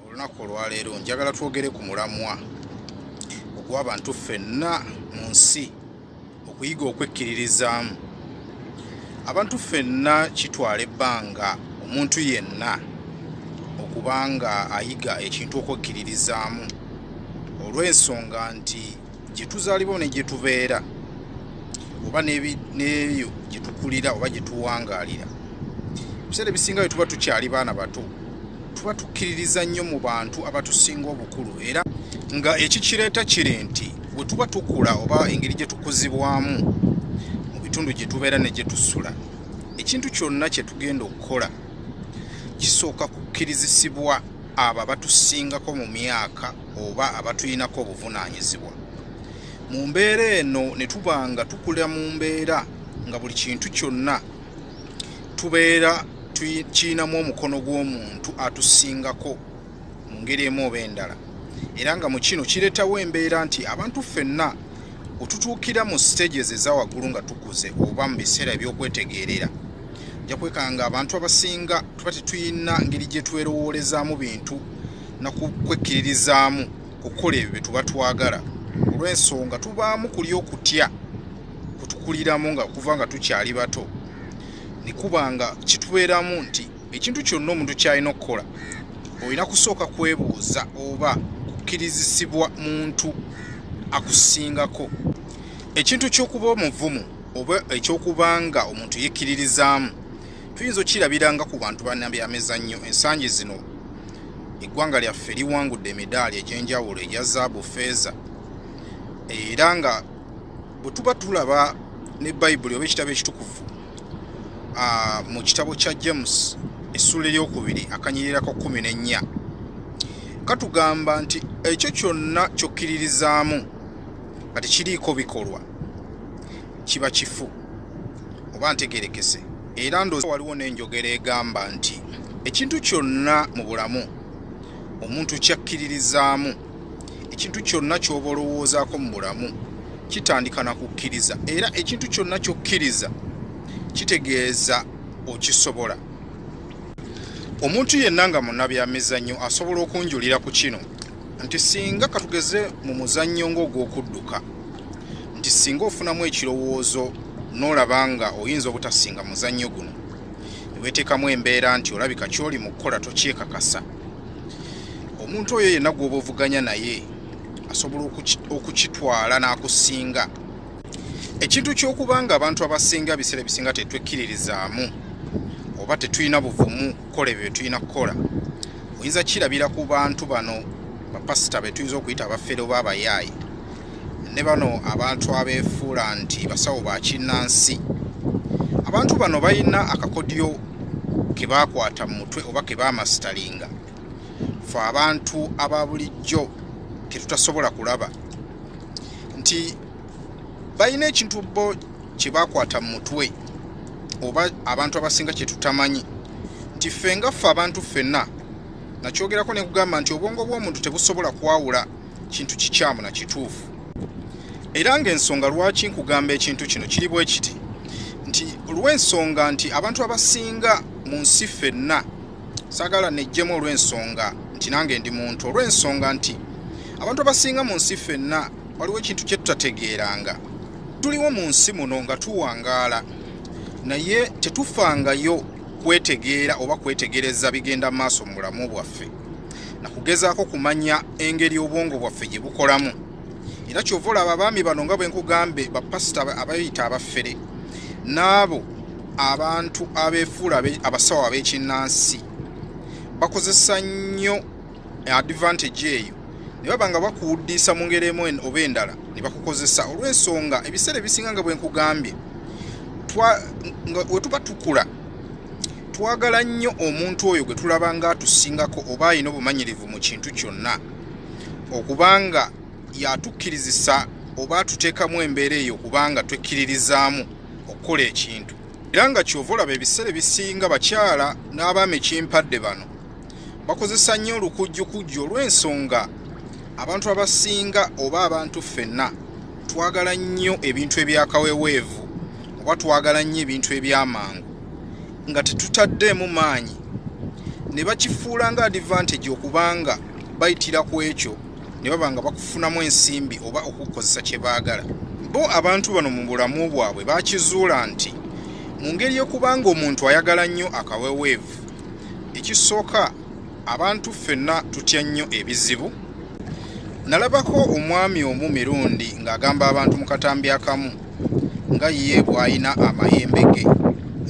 olunaku olwaleero njagala twogere ku mulamwa ogw'abantu ffenna mu nsi okuyiga okwekkiririzaamu abantu ffenna kitwala ebbanga omuntu yenna okuba nga ayiga ekintu okwekkiririzaamu olw'ensonga nti gye tuzaalibwa ne gye tubeera oba n'eyo gye tukulira oba gye tuwangaalira ebiseera ebisinga bye tuba tukyali baana bato tuba tukkiririza nnyo mu bantu abatusinga obukulu era nga ekikireeta kiri nti bwe tuba tukula oba engeri gye tukuzibwamu mu bitundu gye tubeera ne gye tusula ekintu kyonna kye tugenda okukola kisooka kukkirizisibwa abo abatusingako mu myaka oba abatulinako obuvunaanyizibwa mu mbeera eno ne tuba nga tukula mu mbeera nga buli kintu kyonna tubeera tukirinamu omukono gw'omuntu atusingako mu ngeri emu oba endala era nga mu kino kireetawo embeera nti abantu ffenna otutuukira mu stages eza waggulu nga tukuze oba mu biseera eby'okwetegeerera ja kwekanga nga abantu abasinga tuba tetuyina ngeri gye twerowoolezaamu bintu nakukwekkiririzaamu kukola ebyo bye tuba twagala olw'ensonga tubaamu kuli okutya kutukuliramu nga kuva nga tukyali bato nekuba nga kitubeeramu nti ekintu kyonna omuntu kyalina okukola olina kusooka kwebuuza oba kukkirizisibwa muntu akusingako ekintu ky'okuba omuvumu oba ekyokuba nga omuntu yekkiririzaamu tuyinza okukirabiranga ku bantu banabyamizannyo ensangi zino eggwanga lyaffe liwangudde emidaali egy'enjawulo egya zaabu feeza era nga bwe tuba tulaba ne bayibuli oba ekitabo ekitukuvu mu kitabo kya james essuula eryokubiri akanyirirako kumi n'ennya katugamba nti ekyo kyonna kyokkiririzaamu nga tekiriiko bikolwa kiba kifu oba ntegerekese era ndoozi waliwo n'enjogera egamba nti ekintu kyonna mu bulamu omuntu kyakkiririzaamu ekintu kyonna ky'oba olowoozaako mu bulamu kitandika na kukkiriza era ekintu kyonna ky'okkiriza kitegeeza okisobola omuntu yenna nga munabyamizannyo asobola okunjulira ku kino nti singa katugeze mu muzannyo ng'ogw'okudduka nti singa ofunamu ekirowoozo n'olaba nga oyinza obutasinga muzannyo guno ne weeteekamu embeera nti olabika ky'oli mu kukola tokyekakasa omuntu oyo yenna gwoba ovuganya naye asobola okukitwala n'akusinga ekintu ky'okuba nga abantu abasinga ebiseera ebisinga tetwekkiririzaamu oba tetulina buvumu kukola ebyo byetulina kukola oyinza kirabira ku bantu bano bapasita betuyinza okuyita abafere oba abayaaye ne bano abantu abeefuula nti basawo ba kinnansi abantu bano balina akakodyo ke baakwata mu mutwe oba ke baamasitalinga fe abantu aba bulijjo ke tutasobola kulaba nti balina ekintu bo kye baakwata mu mutwe oba abantu abasinga kye tutamanyi nti ffe nga ffe abantu ffenna nakyogerako ne kugamba nti obwongo bw'omuntu tebusobola kwawula kintu kikyamu na kituufu era ng'ensonga lwaki nkugamba ekintu kino kiri bwe kiti nti olw'ensonga nti abantu abasinga mu nsi fenna saagala nejjemu olw'ensonga nti nange ndi muntu olw'ensonga nti abantu abasinga mu nsi fenna waliwo ekintu kye tutategeeranga tuliwo mu nsi muno nga tuwangaala naye tetufangayo kwetegeera oba kwetegereza bigenda mu maaso mu bulamu bwaffe na kugezaako kumanya engeri obwongo bwaffe gye bukolamu era kyova olaba abaami bano nga bwe nkugambe bapasita abayita abafere n'abo abantu abeefuula abasawo ab'ekinnansi bakozesa nnyo advantage eyo ne baba nga bakuwuddiisa mu ngeri emu oba endala ne bakukozesa olw'ensonga ebiseera ebisinga nga bwe nkugambye we tuba tukula twagala nnyo omuntu oyo gwe tulaba nga atusingako oba alina obumanyirivu mu kintu kyonna okubanga yatukkirizisa oba atuteekamu embeera eyo okubanga twekkiririzaamu okukola ekintu era nga kyova olaba ebiseera ebisinga bakyala n'abaami kimpadde bano bakozesa nnyo olukujjukujju olw'ensonga abantu abasinga oba abantu ffenna twagala nnyo ebintu ebyakaweweevu oba twagala nnyo ebintu ebyamangu nga tetutaddeemu maanyi ne bakifuula nga advantage okubanga bayitira ku ekyo ne baba nga bakufunamu ensimbi oba okukozesa kye baagala bo abantu bano mu bulamu bwabwe bakizuula nti mu ngeri yokubanga omuntu ayagala nnyo akaweweevu ekisooka abantu ffenna tutya nnyo ebizibu nalabako omwami omu mirundi ng'agamba abantu mu katambi akamu nga ye bw'alina amayembe ge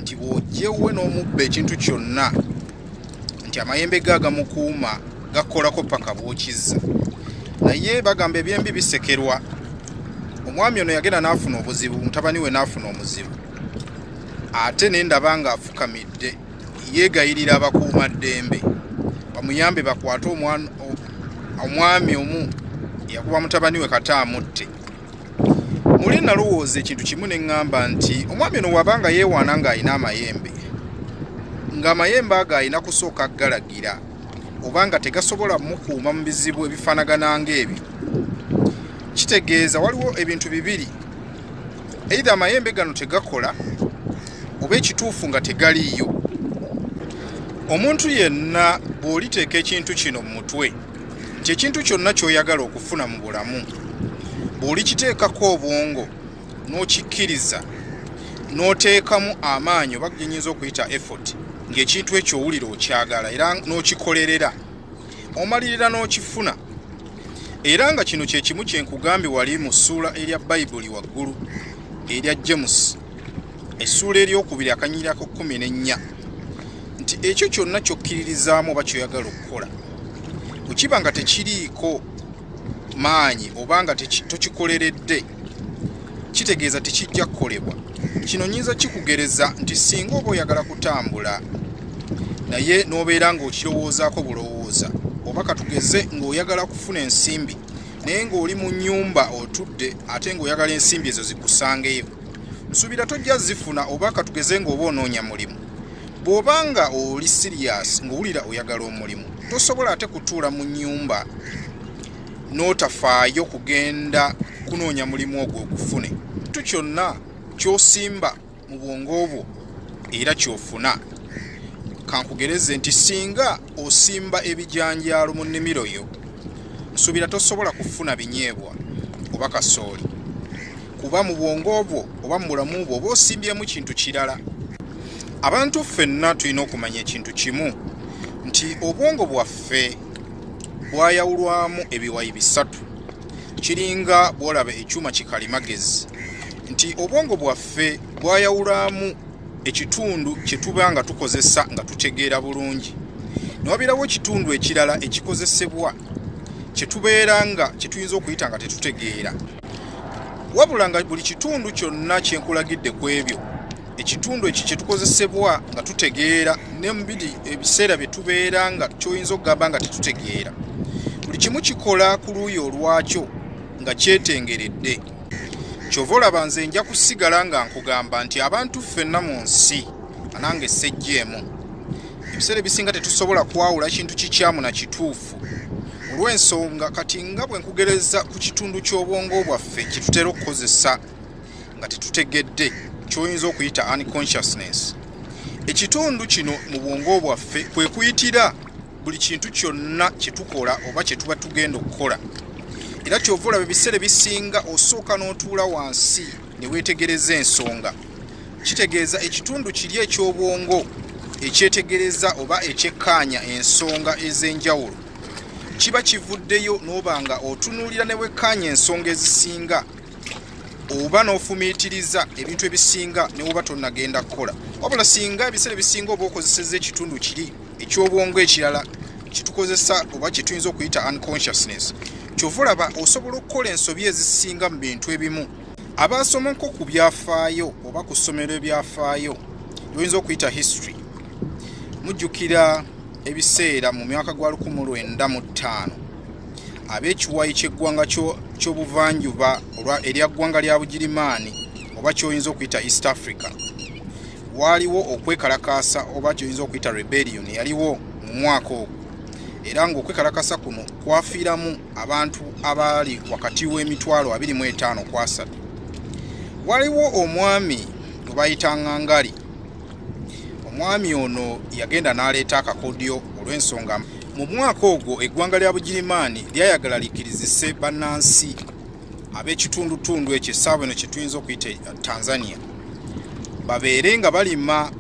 nti bw'ojjewwe n'omubba ekintu kyonna nti amayembe ge agamukuuma gakolako paka bw'okizza naye bagamba ebyembi bisekerwa omwami ono yagenda n'afuna obuzibu mutabani we n'afuna omuzibu ate ne ndaba ng'afukamidde yeegayirira abakuuma ddembe bamuyambe bakwate omwami omu yakuba mutabani we kata amutte muli nalowooza ekintu kimu ne ŋŋamba nti omwami ono waba nga yeewaana ng'alina amayembe ng'amayembe ago alina kusooka galagira oba nga tegasobola mukuuma mu bizibu ebifaanagana ng'ebyo kitegeeza waliwo ebintu bibiri eitha amayembe gano tegakola oba ekituufu nga tegaliiyo omuntu yenna bw'oliteeka ekintu kino mu mutwe nti ekintu kyonna ky'oyagala okufuna mu bulamu bw'olikiteekako obwongo n'okikkiriza n'oteekamu amaanyi oba gyenyinza okuyita effort ng'ekintu ekyo owulira okyagala era n'okikolerera omalirira n'okifuna era nga kino kye kimu kye nkugambye wali mu ssuula erya bayibuli waggulu erya james essuula eryokubiri akanyirira ku kumi n'ennya nti ekyo kyonna kyokkiririzaamu oba kyoyagala okukola bwekiba nga tekiriiko maanyi oba nga tokikoleredde kitegeeza tekijja kukolebwa kino nyinza kikugereza nti singa oba oyagala kutambula naye n'obeera ng'okirowoozaako bulowooza oba katugeze ng'oyagala kufuna ensimbi naye ng'oli mu nyumba otudde ate ng'oyagala ensimbi ezo zikusangeyo nsuubira tojja zifuna oba katugeze ng'oba onoonya mulimu bw'oba nga oli siriyasi ng'owulira oyagala omulimu tosobola ate kutuula mu nyumba n'otafaayo kugenda kunoonya mulimu ogwo ogufune tu kyonna kyosimba mu bwongo obwo era kyofuna kankugereze nti singa osimba ebijanjaalo mu nnimiro yo nsuubira tosobola kufuna binyeebwa oba kasooli kuba mu bwongo obwo oba mu bulamu bwo oba osimbyemu kintu kirala abantu ffenna tulina okumanya ekintu kimu nti obwongo bwaffe bwayawulwamu ebiwayi bisatu kiringa bwolaba ekyuma kikalimagezi nti obwongo bwaffe waffe gwayawulamu ekitundu kye tuba nga tukozesa nga tutegeera bulungi ne wabeerawo ekitundu ekirala ekikozesebwa kye tubeera nga kye tuyinza okuyita nga tetutegeera wabula nga buli kitundu kyonna kye nkulagidde ku ebyo ekitundu ekyo kye tukozesebwa nga tutegeera ne mu biri ebiseera bye tubeera nga kyoyinza okugamba nga tetutegeera buli kimu kikola ku luuyi olwakyo nga kyetengeredde kyova olaba nze nja kusigala nga nkugamba nti abantu ffenna mu nsi anange sejjeemu ebiseera ebisinga tetusobola kwawula kintu kikyamu na kituufu olw'ensonga kati nga bwe nkugereza ku kitundu ky'obwongo bwaffe kitutera okukozesa nga tetutegedde kyoyinza okuyita unconsciousness ekitundu kino mu bwongo bwaffe kwe kuyitira buli kintu kyonna kye tukola oba kye tuba tugenda okukola era kyova olaba ebiseera ebisinga osooka n'otuula wansi ne weetegereza ensonga kitegeeza ekitundu kiri eky'obwongo ekyetegereza oba ekyekkaanya ensonga ez'enjawulo kiba kivuddeyo n'oba nga otunuulira ne wekkaanya ensonga ezisinga oba n'ofumiitiriza ebintu ebisinga ne woba tonnagenda kukola wabula singa ebiseera ebisinga oba okozeseza ekitundu kiri ekyobwongo ekirala kitukozesa oba kyetuyinza okuyita unconsciousness kyova olaba osobola okukola ensobi ezisinga mu bintu ebimu abaasomako ku byafaayo oba ku ssomero ebyafaayo lyoyinza okuyita history mujjukira ebiseera mu myaka gwa 19 ab'ekiwayi ky'eggwanga ky'obuvanjuba erya ggwanga lya bugirimaani oba kyoyinza okuyita east africa waaliwo okwekalakaasa oba kyoyinza okuyita rebellion yaliwo mu mwaka ogwo era ng'okwekalakasa kuno kwafiiramu abantu abaali wakati w'emitwalo 25 kwasatu waliwo omwami gwe bayita ngangali omwami ono yagenda n'aleeta akakodyo olw'ensonga mu mwaka ogwo eggwanga lya bugirimaani lyayagala likirizise bannansi ab'ekitundutundu ekyo essaawa eno kyetuyinza okuyita e, tanzania babeere nga balima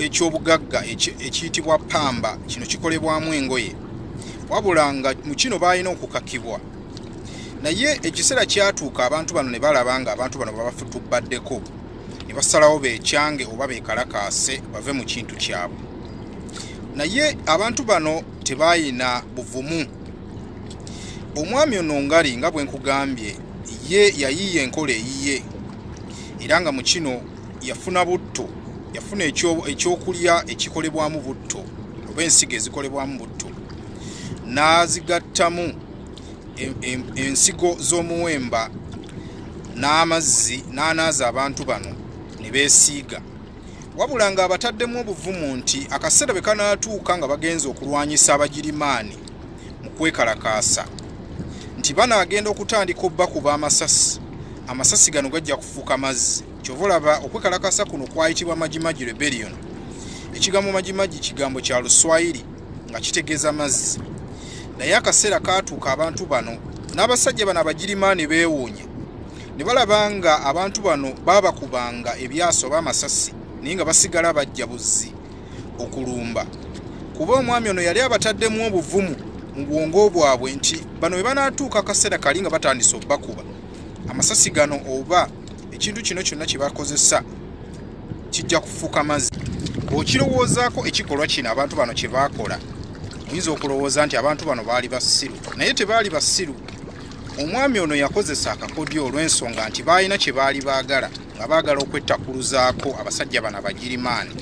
ekyobugagga ekiyitibwa pamba kino kikolebwamu engoye wabula nga mu kino balina okukakibwa naye ekiseera kyatuuka abantu bano ne balaba nga abantu bano babafutubbaddeko ne basalawo bekyange oba bekalakaase bave mu kintu kyabwe naye abantu bano tebayina buvumu omwami ono ngali nga bwe nkugambye ye yayiiya enkola eyiye era nga mu kino yafuna butto yafuna ekyokulya ekikolebwamu butto oba ensigo ezikolebwamu butto n'azigattamu ensigo z'omuwemba n'amazzi n'anaaza abantu bano ne beesiiga wabula ng'abataddemu obuvumu nti akaseera bwe kanaatuuka nga bagenze okulwanyisa abagirimaani mu kwekalakaasa nti bano agenda okutandika obbakuba amasasi amasasi gano gajja kufuuka mazzi kyova olaba okwekalakasa kuno kwayitibwa majimaji rebellion ekigambo majimaji kigambo kya luswayiri nga kitegeeza mazzi naye akaseera kaatuuka abantu bano n'abasajja bano abagirimaani beewuunya ne balaba nga abantu bano baabakubanga ebyaso oba amasasi naye nga basigala bajja buzzi okulumba kuba omwami ono yali abataddemu obuvumu mu bwongo bwabwe nti bano bwe banaatuuka akaseera kali nga batandise obubakuba amasasi gano oba ekintu kino kyonna kye bakozesa kijja kufuuka mazzi bw'okirowoozaako ekikolwa kino abantu bano kye baakola oyinza okulowooza nti abantu bano baali basiru naye tebaali basiru omwami ono yakozesa akakodyo olw'ensonga nti baalina kye baali baagala nga baagala okwettakkuluzaako abasajja bano abagirimaani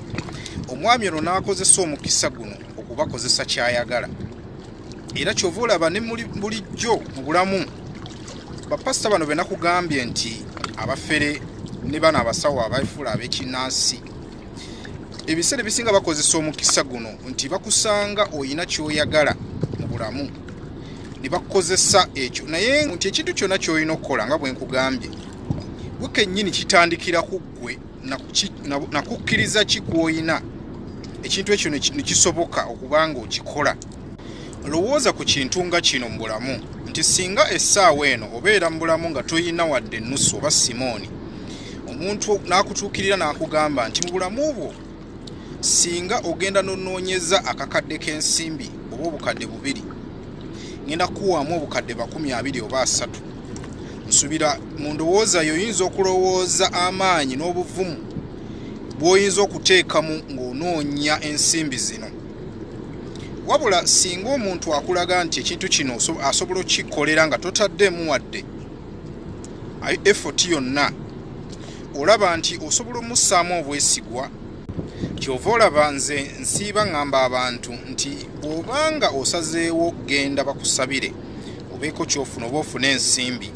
omwami ono n'akozesa omukisa guno okubakozesa ky'ayagala era kyova olaba ne bulijjo mu bulamu bapasita bano benakugambye nti abafere ne bano abasawo abafuula ab'ekinnansi ebiseera ebisinga bakozesa omukisa guno nti bakusanga olina kyoyagala mu bulamu ne bakukozesa ekyo naye nti ekintu kyonna kyolina okukola nga bwe nkugambye gwe kennyini kitandikira ku ggwe nakukkiriza ki kwoyina ekintu ekyo nekisoboka okuba nga okikola lowooza ku kintu nga kino mu bulamu nti singa essaawa eno obeera mu bulamu nga toyina wadde ennusu oba simooni omuntu n'akutuukirira n'akugamba nti mu bulamu bwo singa ogenda nonoonyeza akakadde k'ensimbi oba obukadde bubiri ngenda kukuwaamu obukadde bakumi abiri oba asatu nsubira mu ndowooza yo oyinza okulowooza amaanyi n'obuvumu bw'oyinza okuteekamu ng'onoonya ensimbi zino wabula singa omuntu akulaga nti ekintu kino asobola okukikkolera nga totaddeemu wadde effort yonna olaba nti osobola omussaamu obwesigwa kyova olaba nze nsiiba ŋŋamba abantu nti bw'obanga osazeewo okugenda bakusabire obeeko kyofuna oba ofune ensimbi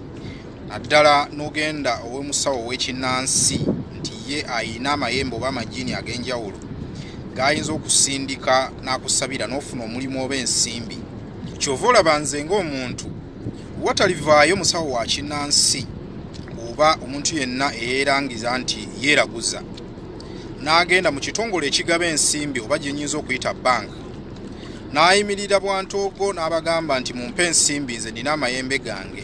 naddala n'ogenda ow'omusawo ow'ekinnansi nti ye ayina amayembe oba amajiini ag'enjawulo g'ayinza okusindika n'akusabira n'ofuna omulimu oba ensimbi kyova olaba nze ng'omuntu watalivaayo musawo wa kinnansi oba omuntu yenna eyeerangiza nti yeeraguza n'agenda mu kitongole ekigaba ensimbi oba gye nyinza okuyita banka n'ayimirira bwantoogo n'abagamba nti mumpe ensimbi nze nina amayembe gange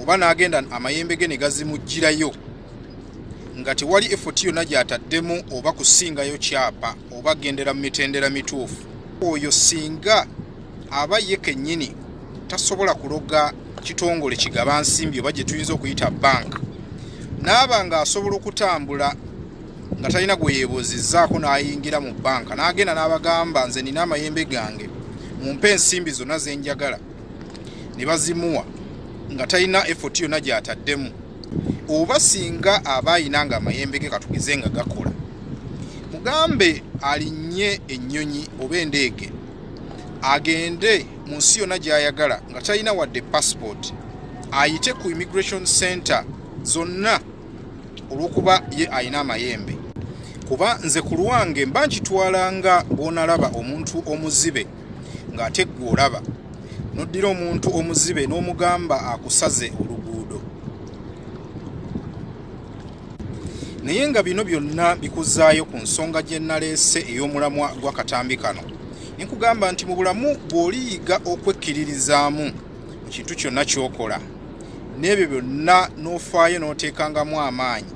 oba n'agenda amayembe ge ne gazimugirayo nga tewali efoti yonna gy'ataddemu oba kusingayo kyapa oba gendera mu mitendera mituufu oyo singa aba ye kennyini tasobola kuloga kitongole kigaba nsimbi oba gye tuyinza okuyita banka naaba ng'asobola okutambula nga talina gwe yeebuuzizzaako n'ayingira mu banka n'agenda n'abagamba nze nina amayembe gange mumpe ensimbi zonna ze njagala ne bazimuwa nga talina efoti yonna gy'ataddemu oba singa aba ayina nga amayembe ge katugize nga gakola mugambe alinnye ennyonyi oba endeege agende mu nsi yonna gy'ayagala nga talina wadde passport ayite ku immigration center zonna olw'okuba ye alina amayembe kuba nze ku lwange mba nkitwala nga bw'onalaba omuntu omuzibe ng'ate ggwe olaba n'oddira omuntu omuzibe n'omugamba akusaze oluguudo naye nga bino byonna bikuzaayo ku nsonga gye naleese ey'omulamwa gw'akatambi kano ne nkugamba nti mu bulamu bw'oliyiga okwekkiririzaamu mu kintu kyonna ky'okola n'ebyo byonna n'ofaayo n'oteekangamu amaanyi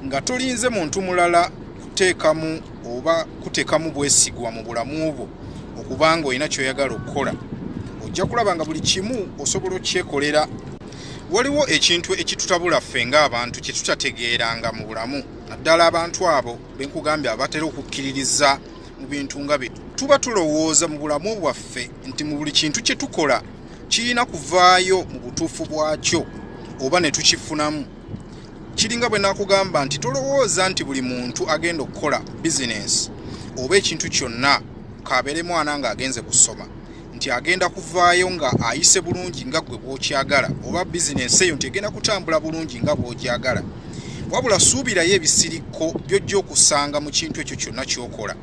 nga tolinze muntu mulala kuteekamu oba kuteekamu bwesigwa mu bulamu bwo okuba nga olina ky'oyagala okukola ojja kulaba nga buli kimu osobola okukyekolera Waliwo ekintu ekitutabula ffe ng'abantu kye tutategeeranga mu bulamu naddala abantu abo be nkugambye abatera okukkiririza mu bintu nga bino tuba tulowooza mu bulamu bwaffe nti mu buli kintu kye tukola kirina kuvaayo mu butuufu bwakyo oba ne tukifunamu kiringa bwe nakugamba nti tolowooza nti buli muntu agenda okukola bizinensi oba ekintu kyonna kaabeere mwana ng'agenze kusoma nti agenda kuvaayo nga ayise bulungi nga gwe bwokyagala oba bizinensi eyo nti egenda kutambula bulungi nga bwogyagala wabula suubirayo ebisirikko byojja okusanga mu kintu ekyo kyonna kyokola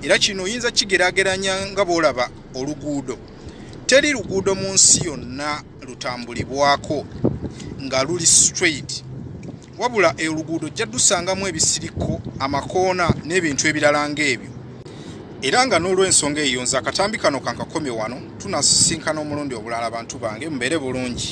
era kino oyinza kigerageranya nga bwolaba oluguudo teri luguudo mu nsi yonna lutambulibwako nga luli straight wabula e oluguudo ojja dusangamu ebisirikko amakoona n'ebintu ebirala ng'ebyo era nga n'olw'ensonga eyo nze akatambi kano kankakomye wano tunasisinkana omulundi obulala abantu bange mubeere bulungi